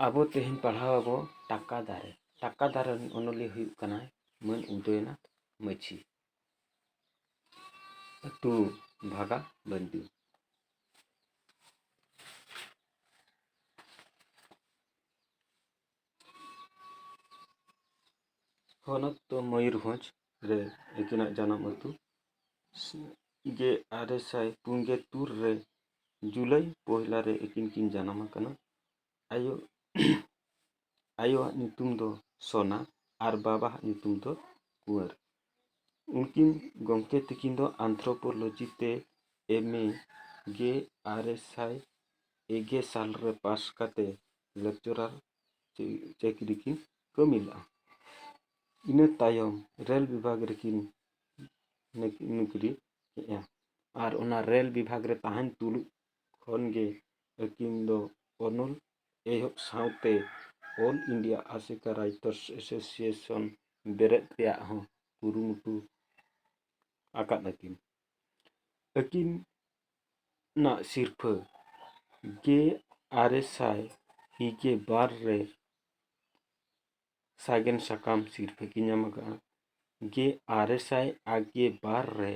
ᱟᱵᱚ ᱛᱮᱦᱮᱧ ᱯᱟᱲᱦᱟᱣ ᱟᱵᱚ ᱴᱟᱠᱟ ᱫᱟᱨᱮ ᱴᱟᱠᱟ ᱫᱟᱨᱮ ᱨᱮᱱ ᱚᱱᱚᱞᱤᱭᱟᱹ ᱦᱩᱭᱩᱜ ᱠᱟᱱᱟᱭ ᱢᱟᱹᱱ ᱩᱫᱚᱭᱱᱟᱛᱷ ᱢᱟᱹᱡᱷᱤ ᱟᱹᱛᱩ ᱵᱷᱟᱜᱟ ᱵᱟᱹᱱᱫᱤ ᱦᱚᱱᱚᱛ ᱫᱚ ᱢᱚᱭᱩᱨᱵᱷᱚᱸᱡᱽ ᱨᱮ ᱩᱱᱠᱤᱱᱟᱜ ᱡᱟᱱᱟᱢ ᱟᱹᱛᱩ ᱜᱮ ᱟᱨᱮ ᱥᱟᱭ ᱯᱩᱱ ᱜᱮ ᱛᱩᱨ ᱨᱮ ᱡᱩᱞᱟᱭ ᱯᱚᱦᱞᱟ ᱨᱮ ᱟᱹᱠᱤᱱ ᱠᱤᱱ ᱡᱟᱱᱟᱢ ᱟᱠᱟᱱᱟ ᱟᱭᱳ ᱟᱭᱳᱣᱟᱜ ᱧᱩᱛᱩᱢ ᱫᱚ ᱥᱳᱱᱟ ᱟᱨ ᱵᱟᱵᱟᱣᱟᱜ ᱧᱩᱛᱩᱢ ᱫᱚ ᱠᱩᱣᱟᱹᱨ ᱩᱱᱠᱤᱱ ᱜᱚᱢᱠᱮ ᱛᱟᱹᱠᱤᱱ ᱫᱚ ᱟᱱᱛᱷᱨᱳᱯᱳᱞᱳᱡᱤ ᱛᱮ ᱮᱢ ᱮ ᱜᱮ ᱟᱨᱮ ᱥᱟᱭ ᱮ ᱜᱮ ᱥᱟᱞ ᱨᱮ ᱯᱟᱥ ᱠᱟᱛᱮᱫ ᱞᱮᱠᱪᱟᱨᱟᱨ ᱪᱟᱹᱠᱨᱤ ᱠᱤᱱ ᱠᱟᱹᱢᱤ ᱞᱮᱫᱼᱟ ᱤᱱᱟᱹ ᱛᱟᱭᱚᱢ ᱨᱮᱹᱞ ᱵᱤᱵᱷᱟᱜᱽ ᱨᱮᱠᱤᱱ ᱱᱩᱠᱨᱤ ᱠᱮᱫᱼᱟ ᱟᱨ ᱚᱱᱟ ᱨᱮᱹᱞ ᱵᱤᱵᱷᱟᱜᱽ ᱨᱮ ᱛᱟᱦᱮᱱ ᱛᱩᱞᱩᱡ ᱠᱷᱚᱱ ᱜᱮ ᱟᱹᱠᱤᱱ ᱫᱚ ᱚᱱᱚᱞ ᱮᱦᱚᱵ ᱥᱟᱶᱛᱮ all India ASECA writers association ᱵᱮᱨᱮᱫ ᱨᱮᱭᱟᱜ ᱦᱚᱸ ᱠᱩᱨᱩᱢᱩᱴᱩ ᱟᱠᱟᱫ ᱟᱹᱠᱤᱱ ᱟᱹᱠᱤᱱ ᱱᱟᱜ ᱥᱤᱨᱯᱷᱟᱹ ᱜᱮ ᱟᱨᱮ ᱥᱟᱭ ᱤᱨᱟᱹᱞ ᱜᱮ ᱵᱟᱨ ᱨᱮ ᱥᱟᱜᱮᱱ ᱥᱟᱠᱟᱢ ᱥᱤᱨᱯᱷᱟᱹ ᱠᱤᱱ ᱧᱟᱢ ᱟᱠᱟᱫᱼᱟ ᱜᱮ ᱟᱨᱮ ᱥᱟᱭ ᱟᱨ ᱜᱮ ᱵᱟᱨ ᱨᱮ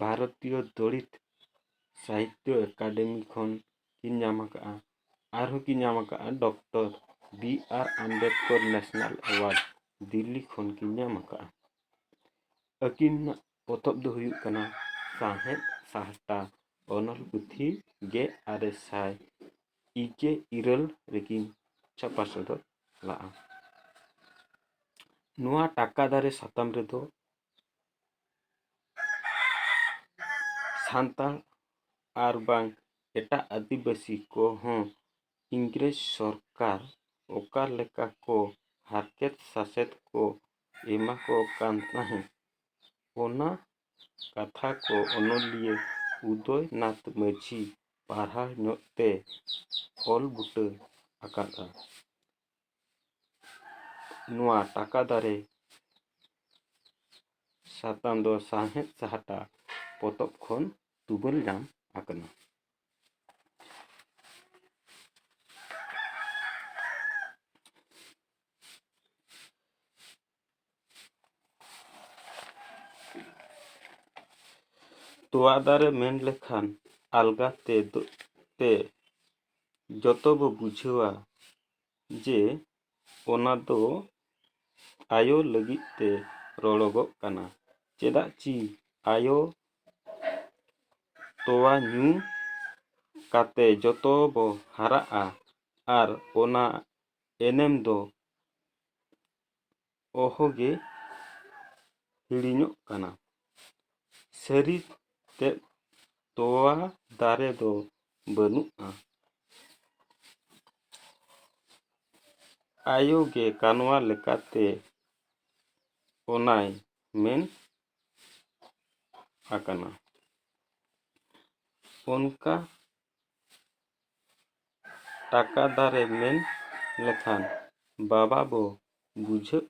ᱵᱷᱟᱨᱚᱛᱤᱭᱚ ᱫᱚᱞᱤᱛ ᱥᱟᱦᱤᱛᱛᱚ ᱮᱠᱟᱰᱮᱢᱤ ᱠᱷᱚᱱ ᱠᱤᱱ ᱧᱟᱢ ᱟᱠᱟᱫᱼᱟ ᱟᱨᱦᱚᱸ ᱠᱤᱱ ᱧᱟᱢ ᱟᱠᱟᱫᱼᱟ doctor B R Ambedkar national award Delhi ᱠᱷᱚᱱ ᱠᱤᱱ ᱧᱟᱢ ᱟᱠᱟᱫᱼᱟ ᱟᱹᱠᱤᱱᱟᱜ ᱯᱚᱛᱚᱵ ᱫᱚ ᱦᱩᱭᱩᱜ ᱠᱟᱱᱟ ᱥᱟᱶᱦᱮᱫ ᱥᱟᱦᱴᱟ ᱚᱱᱚᱞ ᱯᱩᱛᱷᱤ ᱜᱮ ᱟᱨᱮ ᱥᱟᱭ ᱤᱜᱮ ᱤᱨᱟᱹᱞ ᱨᱮᱠᱤᱱ ᱪᱷᱟᱯᱟ ᱥᱚᱫᱚᱨ ᱞᱟᱜᱼᱟ ᱱᱚᱣᱟ ᱴᱟᱠᱟ ᱫᱟᱨᱮ ᱥᱟᱛᱟᱢ ᱨᱮᱫᱚ ᱥᱟᱱᱛᱟᱲ ᱟᱨ ᱵᱟᱝ ᱮᱴᱟᱜ ᱟᱹᱫᱤᱵᱟᱹᱥᱤ ᱠᱚᱦᱚᱸ ᱤᱝᱨᱮᱡᱽ ᱥᱚᱨᱠᱟᱨ ᱚᱠᱟ ᱞᱮᱠᱟ ᱠᱚ ᱦᱟᱨᱠᱮᱛ ᱥᱟᱥᱮᱛ ᱠᱚ ᱮᱢᱟ ᱠᱚ ᱠᱟᱱ ᱛᱟᱦᱮᱸᱫ ᱚᱱᱟ ᱠᱟᱛᱷᱟ ᱠᱚ ᱚᱱᱚᱞᱤᱭᱟᱹ ᱩᱫᱚᱭ ᱱᱟᱛᱷ ᱢᱟᱹᱡᱷᱤ ᱯᱟᱦᱴᱟ ᱧᱚᱜ ᱛᱮ ᱚᱞ ᱵᱩᱴᱟᱹ ᱟᱠᱟᱫᱼᱟ ᱱᱚᱣᱟ ᱴᱟᱠᱟ ᱫᱟᱨᱮ ᱥᱟᱛᱟᱢ ᱫᱚ ᱥᱟᱶᱦᱮᱫ ᱥᱟᱦᱴᱟ ᱯᱚᱛᱚᱵ ᱠᱷᱚᱱ ᱛᱩᱢᱟᱹᱞ ᱧᱟᱢ ᱟᱠᱟᱱᱟ ᱛᱚᱣᱟ ᱫᱟᱨᱮ ᱢᱮᱱ ᱞᱮᱠᱷᱟᱱ ᱟᱞᱜᱟ ᱛᱮ ᱛᱮ ᱡᱚᱛᱚ ᱵᱚ ᱵᱩᱡᱷᱟᱹᱣᱟ ᱡᱮ ᱚᱱᱟ ᱫᱚ ᱟᱭᱳ ᱞᱟᱹᱜᱤᱫ ᱛᱮ ᱨᱚᱲᱚᱜᱚᱜ ᱠᱟᱱᱟ ᱪᱮᱫᱟᱜ ᱪᱤ ᱟᱭᱳ ᱛᱚᱣᱟ ᱧᱩ ᱠᱟᱛᱮ ᱡᱚᱛᱚ ᱵᱚ ᱦᱟᱨᱟᱜᱼᱟ ᱟᱨ ᱚᱱᱟ ᱮᱱᱮᱢ ᱫᱚ ᱚᱦᱚᱜᱮ ᱦᱤᱲᱤᱧᱚᱜ ᱠᱟᱱᱟ ᱥᱟᱹᱨᱤ ᱛᱮᱫ ᱛᱚᱣᱟ ᱫᱟᱨᱮ ᱫᱚ ᱵᱟᱹᱱᱩᱜᱼᱟ ᱟᱭᱳ ᱜᱮ ᱠᱟᱱᱣᱟ ᱞᱮᱠᱟᱛᱮ ᱚᱱᱟᱭ ᱢᱮᱱ ᱟᱠᱟᱱᱟ ᱚᱱᱠᱟ ᱴᱟᱠᱟ ᱫᱟᱨᱮ ᱢᱮᱱ ᱞᱮᱠᱷᱟᱱ ᱵᱟᱵᱟ ᱵᱚ ᱵᱩᱡᱷᱟᱹᱜ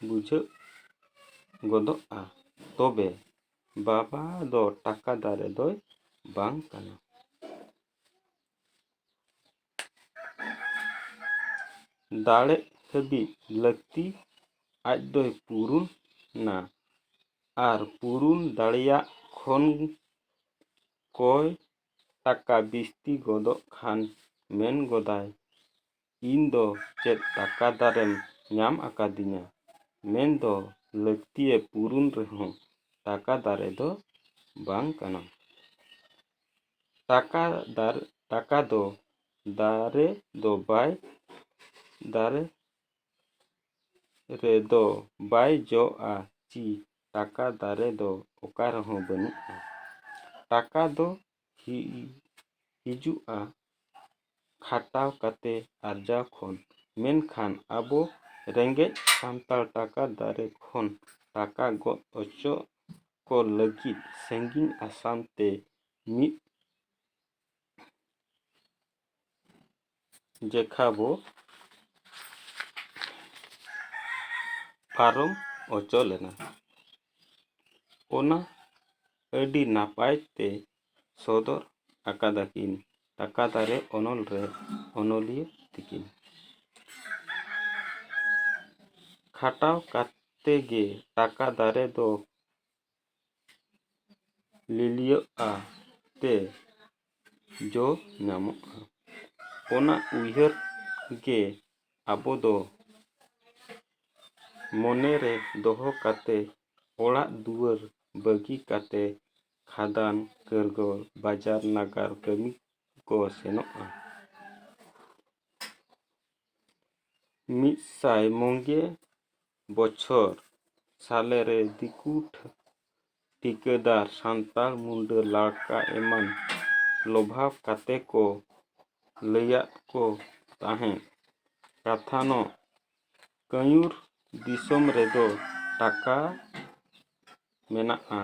ᱵᱩᱡᱷᱟᱹᱜ ᱜᱚᱫᱚᱜᱼᱟ ᱛᱚᱵᱮ ᱵᱟᱵᱟ ᱫᱚ ᱴᱟᱠᱟ ᱫᱟᱨᱮ ᱫᱚᱭ ᱵᱟᱝ ᱠᱟᱱᱟ ᱫᱟᱲᱮ ᱦᱟᱹᱵᱤᱡ ᱞᱟᱹᱠᱛᱤ ᱟᱡ ᱫᱚᱭ ᱯᱩᱨᱩᱱ ᱱᱟ ᱟᱨ ᱯᱩᱨᱩᱱ ᱫᱟᱲᱮᱭᱟᱜ ᱠᱷᱚᱱ ᱠᱚᱭ ᱴᱟᱠᱟ ᱵᱤᱥᱛᱤ ᱜᱚᱫᱚᱜ ᱠᱷᱟᱱ ᱢᱮᱱ ᱜᱚᱫᱟᱭ, ᱤᱧ ᱫᱚ ᱪᱮᱫ ᱴᱟᱠᱟ ᱫᱟᱨᱮᱢ ᱧᱟᱢ ᱟᱠᱟᱫᱤᱧᱟ? ᱢᱮᱱ ᱫᱚ ᱞᱟᱹᱠᱛᱤᱭᱮ ᱯᱩᱨᱩᱱ ᱨᱮᱦᱚᱸ ᱴᱟᱠᱟ ᱫᱟᱨᱮ ᱫᱚ ᱵᱟᱝ ᱠᱟᱱᱟᱢ᱾ ᱴᱟᱠᱟ ᱫᱟᱨ ᱴᱟᱠᱟ ᱫᱚ ᱫᱟᱨᱮ ᱫᱚ ᱵᱟᱭ ᱫᱟᱨᱮ ᱨᱮᱫᱚ ᱵᱟᱭ ᱡᱚᱜᱼᱟ ᱪᱤ ᱴᱟᱠᱟ ᱫᱟᱨᱮ ᱫᱚ ᱚᱠᱟ ᱨᱮᱦᱚᱸ ᱵᱟᱹᱱᱩᱜᱼᱟ ᱴᱟᱠᱟ ᱫᱚ ᱦᱤᱡᱩᱜᱼᱟ ᱠᱷᱟᱴᱟᱣ ᱠᱟᱛᱮᱫ ᱟᱨᱡᱟᱣ ᱠᱷᱚᱱ ᱢᱮᱱᱠᱷᱟᱱ ᱟᱵᱚ ᱨᱮᱸᱜᱮᱡ ᱥᱟᱱᱛᱟᱲ ᱴᱟᱠᱟ ᱫᱟᱨᱮ ᱠᱷᱚᱱ ᱴᱟᱠᱟ ᱜᱚᱫ ᱚᱪᱚᱜ ᱠᱚ ᱞᱟᱹᱜᱤᱫ ᱥᱟᱺᱜᱤᱧ ᱟᱥᱟᱢ ᱛᱮ ᱢᱤᱫ ᱡᱮᱠᱷᱟᱵᱚ ᱯᱟᱨᱚᱢ ᱚᱪᱚ ᱞᱮᱱᱟ ᱚᱱᱟ ᱟᱹᱰᱤ ᱱᱟᱯᱟᱭ ᱛᱮ ᱥᱚᱫᱚᱨ ᱟᱠᱟᱫᱟ ᱠᱤᱱ ᱴᱟᱠᱟ ᱫᱟᱨᱮ ᱚᱱᱚᱞ ᱨᱮ ᱚᱱᱚᱞᱤᱭᱟᱹ ᱛᱤᱠᱤᱱ ᱠᱷᱟᱴᱟᱣ ᱠᱟᱛᱮ ᱜᱮ ᱴᱟᱠᱟ ᱫᱟᱨᱮ ᱫᱚ ᱞᱤᱞᱤᱭᱚᱜᱼᱟ ᱛᱮ ᱡᱚ ᱧᱟᱢᱚᱜᱼᱟ ᱚᱱᱟ ᱩᱭᱦᱟᱹᱨ ᱜᱮ ᱟᱵᱚ ᱫᱚ ᱢᱚᱱᱮ ᱨᱮ ᱫᱚᱦᱚ ᱠᱟᱛᱮᱫ ᱚᱲᱟᱜ ᱫᱩᱣᱟᱹᱨ ᱵᱟᱹᱜᱤ ᱠᱟᱛᱮᱫ ᱠᱷᱟᱫᱟᱱ ᱠᱟᱹᱨᱜᱟᱹᱣ ᱵᱟᱡᱟᱨ ᱱᱟᱜᱟᱨ ᱠᱟᱹᱢᱤ ᱠᱚ ᱥᱮᱱᱚᱜᱼᱟ ᱢᱤᱫ ᱥᱟᱭ ᱢᱚᱜᱮ ᱵᱚᱪᱷᱚᱨ ᱥᱟᱞᱮ ᱨᱮ ᱫᱤᱠᱩ ᱴᱷᱤᱠᱟᱹᱫᱟᱨ ᱥᱟᱱᱛᱟᱲ ᱢᱩᱰᱟᱹ ᱞᱟᱲᱠᱟ ᱮᱢᱟᱱ ᱞᱚᱵᱷᱟᱣ ᱠᱟᱛᱮ ᱠᱚ ᱞᱟᱹᱭᱟᱫ ᱠᱚ ᱛᱟᱦᱮᱸᱫ ᱠᱟᱛᱷᱟᱱᱚᱜ ᱠᱟᱹᱧᱩᱨ ᱫᱤᱥᱚᱢ ᱨᱮᱫᱚ ᱴᱟᱠᱟ ᱢᱮᱱᱟᱜᱼᱟ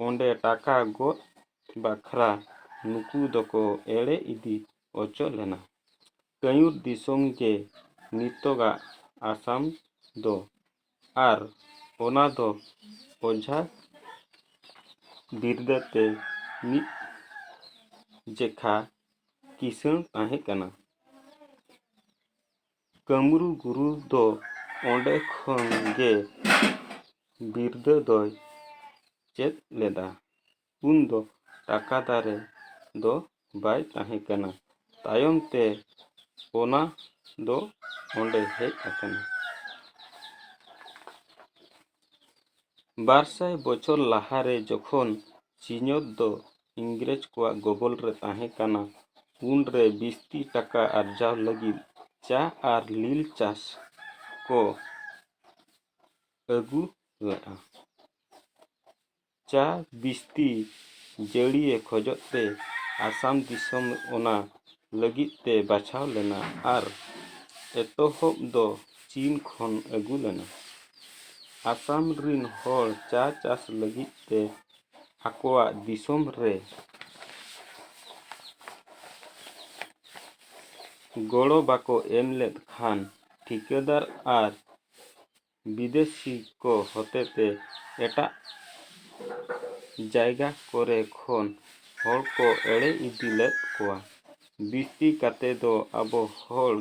ᱚᱸᱰᱮ ᱴᱟᱠᱟ ᱜᱚᱫ ᱵᱟᱠᱷᱨᱟ ᱱᱩᱠᱩ ᱫᱚᱠᱚ ᱮᱲᱮ ᱤᱫᱤ ᱚᱪᱚ ᱞᱮᱱᱟ ᱠᱟᱹᱭᱩᱨ ᱫᱤᱥᱚᱢ ᱜᱮ ᱱᱤᱛᱚᱜᱟᱜ ᱟᱥᱟᱢ ᱫᱚ ᱟᱨ ᱚᱱᱟ ᱫᱚ ᱚᱡᱷᱟ ᱵᱤᱨᱫᱟᱹ ᱛᱮ ᱢᱤᱫ ᱡᱮᱠᱷᱟ ᱠᱤᱥᱟᱹᱬ ᱛᱟᱦᱮᱸ ᱠᱟᱱᱟ᱾ ᱠᱟᱹᱢᱨᱩ ᱜᱩᱨᱩ ᱫᱚ ᱚᱸᱰᱮ ᱠᱷᱚᱱ ᱜᱮ ᱵᱤᱨᱫᱟᱹ ᱫᱚᱭ ᱪᱮᱫ ᱞᱮᱫᱟ᱾ ᱩᱱ ᱫᱚ ᱴᱟᱠᱟ ᱫᱟᱨᱮ ᱫᱚ ᱵᱟᱭ ᱛᱟᱦᱮᱸ ᱠᱟᱱᱟ᱾ ᱛᱟᱭᱚᱢ ᱛᱮ ᱚᱱᱟ ᱫᱚ ᱚᱸᱰᱮ ᱦᱮᱡ ᱟᱠᱟᱱᱟ᱾ ᱵᱟᱨ ᱥᱟᱭ ᱵᱚᱪᱷᱚᱨ ᱞᱟᱦᱟ ᱨᱮ ᱡᱚᱠᱷᱚᱱ ᱥᱤᱧᱚᱛ ᱫᱚ ᱤᱝᱨᱮᱡᱽ ᱠᱚᱣᱟᱜ ᱜᱚᱵᱚᱞ ᱨᱮ ᱛᱟᱦᱮᱸ ᱠᱟᱱᱟ, ᱩᱱ ᱨᱮ ᱵᱤᱥᱛᱤ ᱴᱟᱠᱟ ᱟᱨᱡᱟᱣ ᱞᱟᱹᱜᱤᱫ ᱪᱟ ᱟᱨ ᱞᱤᱞ ᱪᱟᱥ ᱠᱚ ᱟᱹᱜᱩ ᱞᱮᱫᱼᱟ᱾ ᱪᱟ ᱵᱤᱥᱛᱤ ᱡᱟᱹᱲᱤᱭᱮ ᱠᱷᱚᱡᱚᱜ ᱛᱮ ᱟᱥᱟᱢ ᱫᱤᱥᱚᱢ ᱚᱱᱟ ᱞᱟᱹᱜᱤᱫ ᱛᱮ ᱵᱟᱪᱷᱟᱣ ᱞᱮᱱᱟ ᱟᱨ ᱮᱛᱚᱦᱚᱵ ᱫᱚ ᱪᱤᱱ ᱠᱷᱚᱱ ᱟᱹᱜᱩ ᱞᱮᱱᱟ ᱟᱥᱟᱢ ᱨᱤᱱ ᱦᱚᱲ ᱪᱟ ᱪᱟᱥ ᱞᱟᱹᱜᱤᱫ ᱛᱮ ᱟᱠᱚᱣᱟᱜ ᱫᱤᱥᱚᱢ ᱨᱮ ᱜᱚᱲᱚ ᱵᱟᱠᱚ ᱮᱢ ᱞᱮᱫ ᱠᱷᱟᱱ ᱴᱷᱤᱠᱟᱹᱫᱟᱨ ᱟᱨ ᱵᱤᱫᱮᱥᱤ ᱠᱚ ᱦᱚᱛᱮᱛᱮ ᱮᱴᱟᱜ ᱡᱟᱭᱜᱟ ᱠᱚᱨᱮ ᱠᱷᱚᱱ ᱦᱚᱲ ᱠᱚ ᱮᱲᱮ ᱤᱫᱤ ᱞᱮᱫ ᱠᱚᱣᱟ ᱵᱤᱥᱛᱤ ᱠᱟᱛᱮ ᱫᱚ ᱟᱵᱚ ᱦᱚᱲ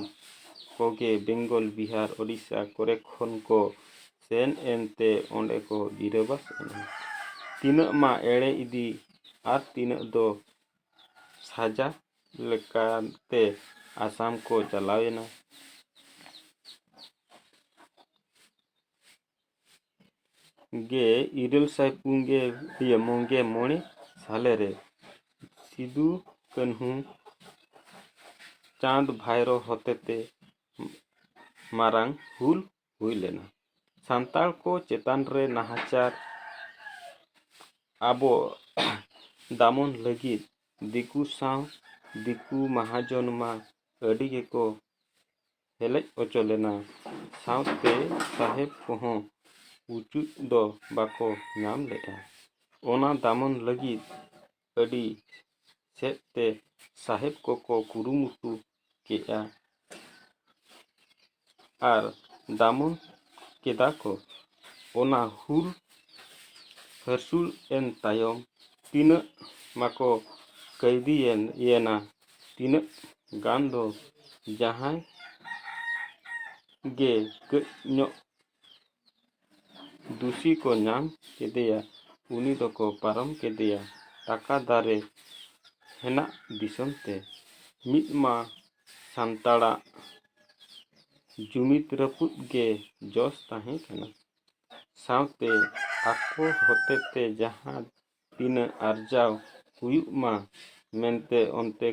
ᱠᱚᱜᱮ ᱵᱮᱝᱜᱚᱞ ᱵᱤᱦᱟᱨ ᱳᱰᱤᱥᱟ ᱠᱚᱨᱮ ᱠᱷᱚᱱ ᱠᱚ ᱥᱮᱱ ᱮᱱ ᱛᱮ ᱚᱸᱰᱮ ᱠᱚ ᱜᱤᱨᱟᱹᱵᱟᱥ ᱮᱱᱟ ᱛᱤᱱᱟᱹᱜ ᱢᱟ ᱮᱲᱮ ᱤᱫᱤ ᱟᱨ ᱛᱤᱱᱟᱹᱜ ᱫᱚ ᱥᱟᱡᱟ ᱞᱮᱠᱟᱛᱮ ᱟᱥᱟᱢ ᱠᱚ ᱪᱟᱞᱟᱣ ᱮᱱᱟ᱾ ᱜᱮ ᱤᱨᱟᱹᱞ ᱥᱟᱭ ᱯᱩᱱᱜᱮ ᱤᱭᱟᱹ ᱢᱚᱜᱮ ᱢᱚᱬᱮ ᱥᱟᱞᱮ ᱨᱮ ᱥᱤᱫᱩ ᱠᱟᱹᱱᱦᱩ ᱪᱟᱸᱫᱽ ᱵᱷᱟᱭᱨᱚ ᱦᱚᱛᱮᱛᱮ ᱢᱟᱨᱟᱝ ᱦᱩᱞ ᱦᱩᱭ ᱞᱮᱱᱟ ᱥᱟᱱᱛᱟᱲ ᱠᱚ ᱪᱮᱛᱟᱱ ᱨᱮ ᱱᱟᱦᱟᱪᱟᱨ ᱟᱵᱚ ᱫᱟᱢᱚᱱ ᱞᱟᱹᱜᱤᱫ ᱫᱤᱠᱩ ᱥᱟᱶ ᱫᱤᱠᱩ ᱢᱟᱦᱟᱡᱚᱱ ᱢᱟ ᱟᱹᱰᱤ ᱜᱮᱠᱚ ᱦᱮᱞᱮᱡ ᱦᱚᱪᱚ ᱞᱮᱱᱟ ᱥᱟᱶᱛᱮ ᱥᱟᱦᱮᱵᱽ ᱠᱚᱦᱚᱸ ᱩᱪᱩᱫ ᱫᱚ ᱵᱟᱠᱚ ᱧᱟᱢ ᱞᱮᱫᱼᱟ ᱚᱱᱟ ᱫᱟᱢᱚᱱ ᱞᱟᱹᱜᱤᱫ ᱟᱹᱰᱤ ᱥᱮᱫ ᱛᱮ ᱥᱟᱦᱮᱵᱽ ᱠᱚᱠᱚ ᱠᱩᱨᱩᱢᱩᱴᱩ ᱠᱮᱫᱼᱟ ᱟᱨ ᱫᱟᱢᱚᱱ ᱠᱮᱫᱟ ᱠᱚ ᱚᱱᱟ ᱦᱩᱞ ᱦᱟᱹᱥᱩᱞ ᱮᱱ ᱛᱟᱭᱚᱢ ᱛᱤᱱᱟᱹᱜ ᱢᱟᱠᱚ ᱠᱟᱹᱭᱫᱤᱭᱮᱱ ᱭᱮᱱᱟ ᱛᱤᱱᱟᱹᱜ ᱜᱟᱱ ᱫᱚ ᱡᱟᱦᱟᱸᱭ ᱜᱮ ᱠᱟᱹᱡ ᱧᱚᱜ ᱫᱩᱥᱤ ᱠᱚ ᱧᱟᱢ ᱠᱮᱫᱮᱭᱟ ᱩᱱᱤ ᱫᱚᱠᱚ ᱯᱟᱨᱚᱢ ᱠᱮᱫᱮᱭᱟ ᱴᱟᱠᱟ ᱫᱟᱨᱮ ᱦᱮᱱᱟᱜ ᱫᱤᱥᱚᱢ ᱛᱮ ᱢᱤᱫ ᱢᱟ ᱥᱟᱱᱛᱟᱲᱟᱜ ᱡᱩᱢᱤᱫ ᱨᱟᱹᱯᱩᱫ ᱜᱮ ᱡᱚᱥ ᱛᱟᱦᱮᱸ ᱠᱟᱱᱟ ᱥᱟᱶᱛᱮ ᱟᱠᱚ ᱦᱚᱛᱮ ᱛᱮ ᱡᱟᱦᱟᱸ ᱛᱤᱱᱟᱹᱜ ᱟᱨᱡᱟᱣ ᱦᱩᱭᱩᱜ ᱢᱟ ᱢᱮᱱᱛᱮ ᱚᱱᱛᱮ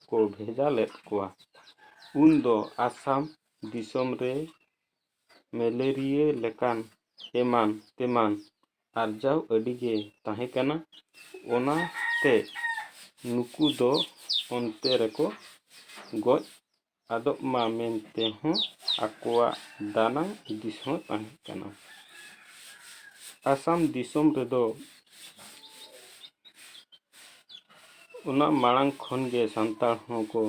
ᱠᱚ ᱵᱷᱮᱡᱟ ᱞᱮᱫ ᱠᱚᱣᱟ ᱩᱱ ᱫᱚ ᱟᱥᱟᱢ ᱫᱤᱥᱚᱢ ᱨᱮ ᱢᱮᱞᱮᱨᱤᱭᱟᱹ ᱞᱮᱠᱟᱱ ᱮᱢᱟᱱ ᱛᱮᱢᱟᱱ ᱟᱨᱡᱟᱣ ᱟᱹᱰᱤ ᱜᱮ ᱛᱟᱦᱮᱸ ᱠᱟᱱᱟ ᱚᱱᱟ ᱛᱮ ᱱᱩᱠᱩ ᱫᱚ ᱚᱱᱛᱮ ᱨᱮᱠᱚ ᱜᱚᱡ ᱟᱫᱚᱜ ᱢᱟ ᱢᱮᱱᱛᱮ ᱦᱚᱸ ᱟᱠᱚᱣᱟᱜ ᱫᱟᱱᱟᱝ ᱦᱩᱫᱤᱥ ᱦᱚᱸ ᱛᱟᱦᱮᱸ ᱠᱟᱱᱟ ᱟᱥᱟᱢ ᱫᱤᱥᱚᱢ ᱨᱮᱫᱚ ᱚᱱᱟ ᱢᱟᱲᱟᱝ ᱠᱷᱚᱱ ᱜᱮ ᱥᱟᱱᱛᱟᱲ ᱦᱚᱸ ᱠᱚ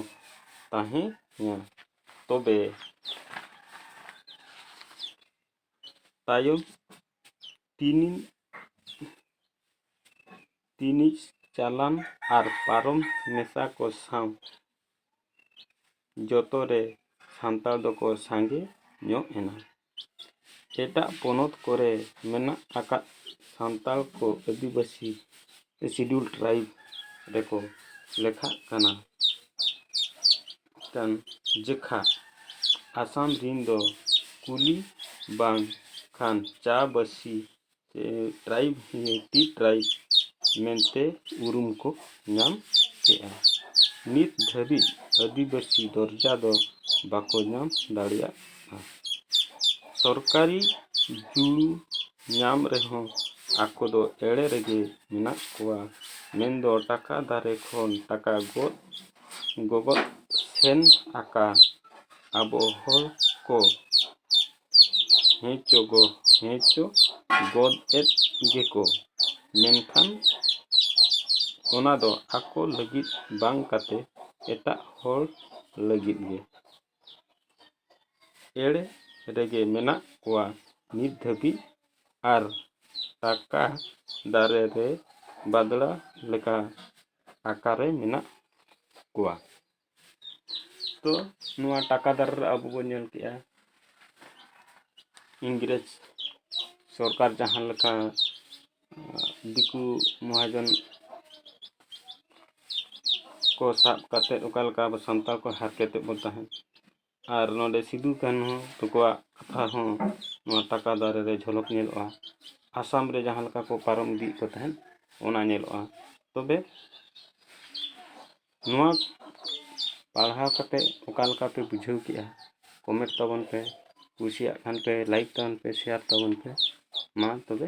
ᱛᱟᱦᱮᱸᱭᱟ ᱛᱚᱵᱮ ᱛᱟᱭᱚᱢ ᱛᱤᱱᱤ ᱛᱤᱱᱤᱡ ᱪᱟᱞᱟᱱ ᱟᱨ ᱯᱟᱨᱚᱢ ᱢᱮᱥᱟ ᱠᱚ ᱥᱟᱶ ᱡᱚᱛᱚ ᱨᱮ ᱥᱟᱱᱛᱟᱲ ᱫᱚᱠᱚ ᱥᱟᱸᱜᱮ ᱧᱚᱜ ᱮᱱᱟ ᱮᱴᱟᱜ ᱯᱚᱱᱚᱛ ᱠᱚᱨᱮ ᱢᱮᱱᱟᱜ ᱟᱠᱟᱫ ᱥᱟᱱᱛᱟᱲ ᱠᱚ ᱟᱹᱫᱤᱵᱟᱹᱥᱤ ᱥᱤᱰᱩᱞ ᱴᱨᱟᱭᱤᱵᱽ ᱨᱮᱠᱚ ᱞᱮᱠᱷᱟᱜ ᱠᱟᱱᱟ ᱠᱟᱱ ᱡᱚᱠᱷᱟ ᱟᱥᱟᱢ ᱨᱮᱱ ᱫᱚ ᱠᱩᱞᱤ ᱵᱟᱝᱠᱷᱟᱱ ᱪᱟ ᱵᱟᱹᱥᱤ ᱥᱮ ᱴᱨᱟᱭᱤᱵᱽ ᱴᱤ ᱴᱨᱟᱭᱤᱵᱽ ᱢᱮᱱᱛᱮ ᱩᱨᱩᱢ ᱠᱚ ᱧᱟᱢ ᱠᱮᱜᱼᱟ ᱱᱤᱛ ᱫᱷᱟᱹᱵᱤᱡ ᱟᱹᱫᱤᱵᱟᱹᱥᱤ ᱫᱚᱨᱡᱟ ᱫᱚ ᱵᱟᱠᱚ ᱧᱟᱢ ᱫᱟᱲᱮᱭᱟᱜᱼᱟ ᱥᱚᱨᱠᱟᱨᱤ ᱡᱩᱲᱩ ᱧᱟᱢ ᱨᱮᱦᱚᱸ ᱟᱠᱚ ᱫᱚ ᱮᱲᱮ ᱨᱮᱜᱮ ᱢᱮᱱᱟᱜ ᱠᱚᱣᱟ ᱢᱮᱱᱫᱚ ᱴᱟᱠᱟ ᱫᱟᱨᱮ ᱠᱷᱚᱱ ᱴᱟᱠᱟ ᱜᱚᱫ ᱜᱚᱜᱚᱫ ᱥᱮᱱ ᱟᱠᱟᱱ ᱟᱵᱚ ᱦᱚᱲ ᱠᱚ ᱦᱮᱸᱪᱚ ᱜᱚ ᱦᱮᱸᱪᱚ ᱜᱚᱫ ᱮᱫ ᱜᱮᱠᱚ ᱢᱮᱱᱠᱷᱟᱱ ᱚᱱᱟ ᱫᱚ ᱟᱠᱚ ᱞᱟᱹᱜᱤᱫ ᱵᱟᱝ ᱠᱟᱛᱮ ᱮᱴᱟᱜ ᱦᱚᱲ ᱞᱟᱹᱜᱤᱫ ᱜᱮ ᱮᱲᱮ ᱨᱮᱜᱮ ᱢᱮᱱᱟᱜ ᱠᱚᱣᱟ ᱱᱤᱛ ᱫᱷᱟᱹᱵᱤᱡ ᱟᱨ ᱴᱟᱠᱟ ᱫᱟᱨᱮ ᱨᱮ ᱵᱟᱫᱽᱲᱟ ᱞᱮᱠᱟ ᱟᱠᱟᱨᱮ ᱢᱮᱱᱟᱜ ᱠᱚᱣᱟ ᱛᱚ ᱱᱚᱣᱟ ᱴᱟᱠᱟ ᱫᱟᱨ ᱨᱮ ᱟᱵᱚ ᱵᱚᱱ ᱧᱮᱞ ᱠᱮᱜᱼᱟ ᱤᱝᱨᱮᱡᱽ ᱥᱚᱨᱠᱟᱨ ᱡᱟᱦᱟᱸ ᱞᱮᱠᱟ ᱫᱤᱠᱩ ᱢᱚᱦᱟᱡᱚᱱ ᱠᱚ ᱥᱟᱵ ᱠᱟᱛᱮᱫ ᱚᱠᱟ ᱞᱮᱠᱟ ᱟᱵᱚ ᱥᱟᱱᱛᱟᱲ ᱠᱚ ᱦᱟᱨᱠᱮᱛᱮᱫ ᱵᱚᱱ ᱛᱟᱦᱮᱸᱫ ᱟᱨ ᱱᱚᱰᱮ ᱥᱤᱫᱩ ᱠᱟᱹᱱᱦᱩ ᱛᱟᱠᱚᱣᱟᱜ ᱠᱟᱛᱷᱟ ᱦᱚᱸ ᱱᱚᱣᱟ ᱴᱟᱠᱟ ᱫᱟᱨᱮ ᱨᱮ ᱡᱷᱚᱞᱚᱠ ᱧᱮᱞᱚᱜᱼᱟ ᱟᱥᱟᱢ ᱨᱮ ᱡᱟᱦᱟᱸ ᱞᱮᱠᱟ ᱠᱚ ᱯᱟᱨᱚᱢ ᱤᱫᱤᱭᱮᱫ ᱠᱚ ᱛᱟᱦᱮᱸᱫ ᱚᱱᱟ ᱧᱮᱞᱚᱜᱼᱟ ᱛᱚᱵᱮ ᱱᱚᱣᱟ ᱯᱟᱲᱦᱟᱣ ᱠᱟᱛᱮ ᱚᱠᱟ ᱞᱮᱠᱟ ᱯᱮ ᱵᱩᱡᱷᱟᱹᱣ ᱠᱮᱜᱼᱟ ᱠᱚᱢᱮᱱᱴ ᱛᱟᱵᱚᱱ ᱯᱮ ᱠᱩᱥᱤᱭᱟᱜ ᱠᱷᱟᱱ ᱯᱮ ᱞᱟᱭᱤᱠ ᱛᱟᱵᱚᱱ ᱯᱮ ᱥᱮᱭᱟᱨ ᱛᱟᱵᱚᱱ ᱯᱮ ᱢᱟ ᱛᱚᱵᱮ